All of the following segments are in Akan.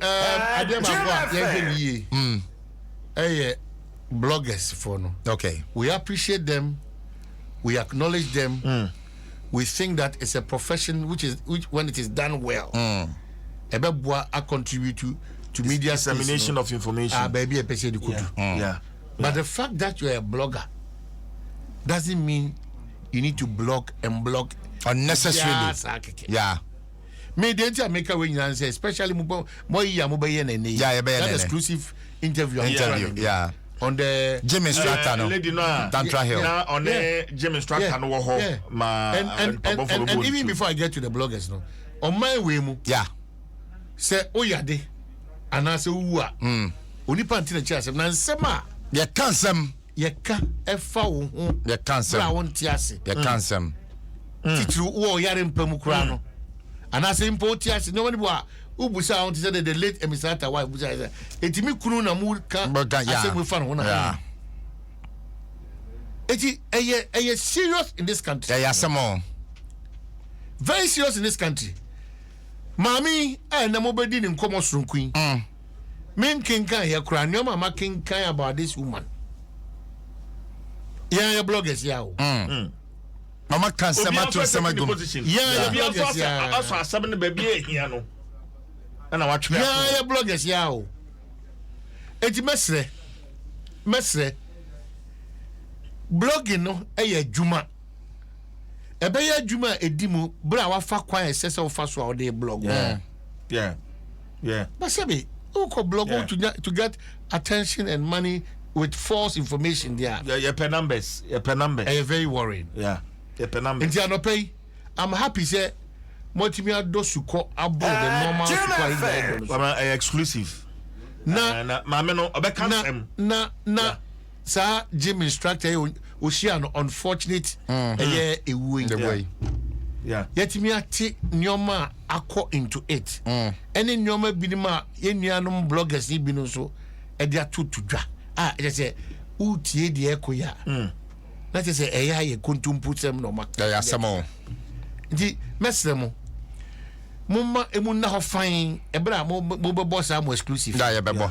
adeɛ baako a yɛhwɛ no yie ɛyɛ bloggers for no okay we appreciate them we acknowledge them mm. we think that it's a profession which is which when it is done well mm. ɛbɛboa a contribute to to media dissemination no, of information ah baabi ɛpɛ sɛ de kodu yeah. yeah but the fact that you are a blogger doesn't mean you need to blog and blog unnecessarily yeah me deɛ nti a meka wei nyinaa sɛ especially mo mo ayi a mobɛyɛ no ɛnɛ yi yeah, yɛbɛyɛ that exclusive interview interview yeah. on the Jimmy Strata no lady no a Tantra Hill na on the Jimmy Strata no wɔ hɔ ma and and and and and even before I get to the bloggers no on my way mu yeah sɛ oyade anaasɛ wowu a onipa nti na kyerɛ asɛm na nsɛm a yɛka nsɛm Yɛka fa wo ho berɛ a wonte ase. Yɛka nsɛm, titiriw wowɔ ɔyare mpa mu koraa no, anaasɛ mpo wote ase. Nneɛma no bi wɔ a wobisa ho te sɛ deɛ the late Emisrata wife bisaeɛ sɛ, Enti me kunu na moreka asɛm fa ne ho na ho? Eti ɛyɛ ɛyɛ serious in this country. Ɛyɛ asɛm o. Very serious in this country. Maame a ɛnna mobɛdi ne nkɔmmɔ soronko yi. menkenkan yɛ koraa nneɛma a makenkan about this woman yɛn ayɛ bloggers yɛ o. Mm. Mm. mama ka nsɛm ato nsɛm agu mu yɛn bloggers yɛ a ɔsɔ asɛm no baabi a ehia no ɛna watwerɛ yɛn ayɛ bloggers yɛ a o eti mɛsrɛ mɛsrɛ blogging no yɛ adwuma ɛbɛyɛ adwuma a edi mu bere a wafa kwan a ɛsɛ sɛ wofa so a wɔde blog. Yeah. Yeah. Yeah. But sɛbi, wokɔ blog yeah. to, nya, to get attention and money with false information there. Yeah, yeah, per numbers, yeah, per numbers. Ɛyɛ very worrying. Yeah, yeah, per numbers. Nti anɔpɛ yi, I'm happy sɛ mɔtumi adɔ sukɔ abo the eh, normal sukɔ ayi na ɛdɔ no so. Ɛyɛ exclusive. Na na maame no ɔbɛka nsɛm. Na na na. saa gym instructor yi ohyia no unfortunate mm-hmm. ɛyɛ ewuo yi yɛtumi ate nneɛma a akɔ into it mm. ɛne nneɛma binom a yɛn nuanom bloggers yi binom nso ɛde ato to dwa a ɛkyɛ sɛ wotie deɛ ɛkɔ yɛ a mm. na kyɛ sɛ ɛyɛ ayɛ kontompo sɛm na ɔma ɛyɛ asɛm o nti mɛsrɛ mo momma emu nna hɔ fann ɛberɛ a mobɛbɔ saa mo exclusive da yɛbɛbɔ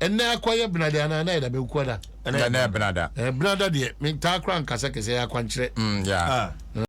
Ɛnɛ akɔyɛ benada anaa na yɛ da bɛkua da. Ɛnɛ yɛ benada. Ɛɛ benada deɛ mentaa kora nkasa kɛsɛ yɛ akwankyerɛ. Mm yeah. Ah.